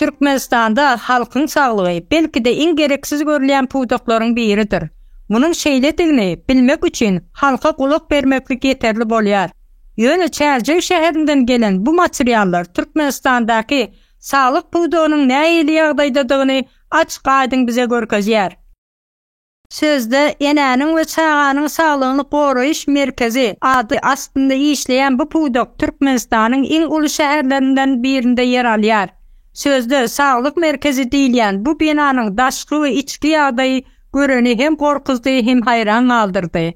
Türkmenistanda halkyň saglygy belki-de iň gereksiz görülýän pudaklaryň biridir. Munuň şeýledigini bilmek üçin halka gulak bermeklik ýeterli bolýar. Ýöne Çärjew şäherinden gelen bu materiallar Türkmenistandaky saglyk pudagynyň nähili ýagdaýdadygyny açyk-aýdyň bize görkezýär. Sözde Enäniň we çaganyň saglygyny goraýyş merkezi ady astynda işleýän bu pudak Türkmenistanyň iň uly şäherlerinden birinde ýer alýar. Sözde Saglyk merkezi diýilýän bu binanyň daşky we içki ýagdaýy göreni hem gorkuzdy, hem haýran galdyrdy.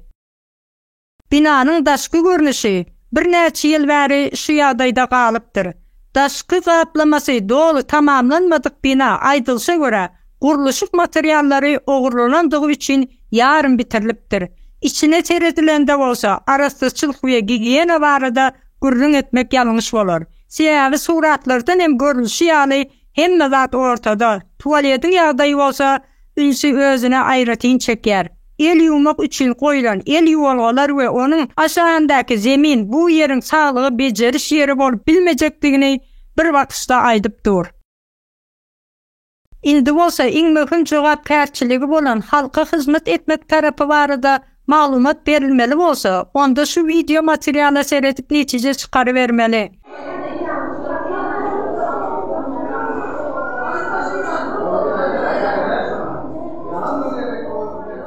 Binanyň daşky görnüşi birnäçe ýyl bäri şu ýagdaýda galypdyr. Daşky gaplamasy doly tamamlanmadyk bina, aýdylyşa görä, gurluşyk materiallary ogurlanandygy üçin ýarym bitirilipdir. Içine seredilende bolsa, arassaçylyk we gigiýena barada gürrüň etmek ýalňyş bolar. Sebäbi suratlardan hem görlüşi ýaly, hemme zat ortada, tualediň ýagdaýy bolsa, ünsi özüne aýratyn çekýär. El ýuwmak üçin goýlan el ýuwalgalar we onuň aşagyndaky zemin bu ýeriň saglygy bejeriş ýeri bolup bilmejekdigini bir basyşda aýdyp dur. Indi bolsa iň möhüm jogapkärçiligi bolan halka hyzmat etmek tarapy barada Maglumat berilmeli bolsa, onda şu wideo materiala seredip netije çykarybermeli.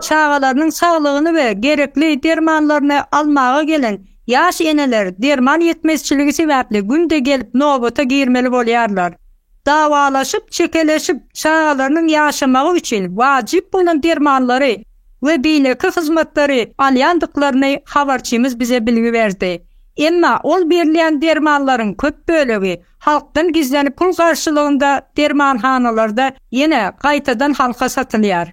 Çagalarynyň saglygyny we gerekli dermanlaryny almaga gelen ýaş eneler derman ýetmezçiligi sebäpli günde gelip nobata girmeli bolýarlar. dawalaşyp, çekeleşip, çagalarynyň ýaşamagy üçin wajyp bolan dermanlary we beýleki hyzmatlary alýandyklaryny habarçymyz bize bilgi berdi. Emma ol berilýän dermanlaryň köp bölegi halkdan gizlenip pul garşylygynda dermanhanalarda ýene gaýtadan halka satylýar.